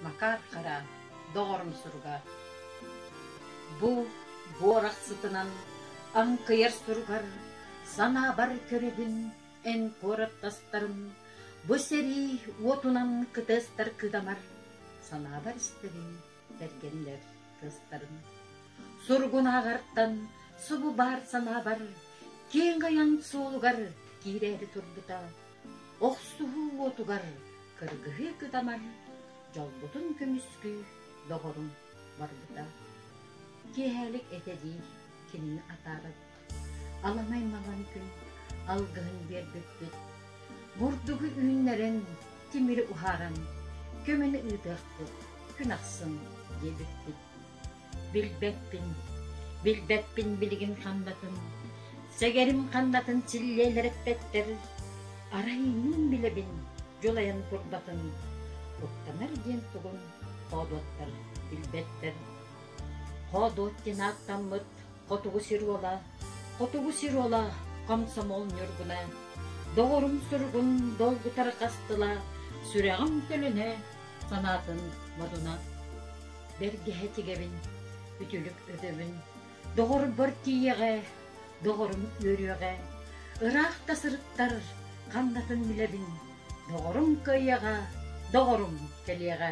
Макар Хара, доҕорум суруга: «Бу буорах сытынан аҥкыйар суругар санаабар көрөбүн эн куораттастарын бу сэрии уотунан кытыастар кытамар санаабар истэрин бэргэннэр тыастарын суругунааҕартан субу баар санаабар киэҥ айан суолугар киирээри турбута Охсуһуу уотугар кыргыһыы кытаман дьолбутун көмүскүү доҕорум барбыта. Киэһээлик этэ дии кинини атааран. Аламай малан күн алгыһын биэрбиппит. Мурдугу үүннэрэн, тимири уһааран, көмөнү ыытыахпыт күн ахсын диэбиппит. Билбэппин, билбэппин билигин ханнатын, сэгэрим ханнатын силлиэлэрэппэттэр, арай мин билэбин дьулайан турбатын, куттанар диэн тугун хоодуоттар билбэттэр. Хоодуот диэн ааттаммыт хотугу сир уола, хотугу сир уола комсомол ньургуна, доҕорум суругун долгутар хастыла, сүрэҕим төлөнө, санаатын модуна. Бэргэһэ тигэбин, үтүлүк өтөбүн, доҕорбор тиийэҕэ, доҕорум үөрүөҕэ, ыраах да сырыттар ханнатын билэбин, доҕорум кыайыаҕа, доҕорум кэлиэҕэ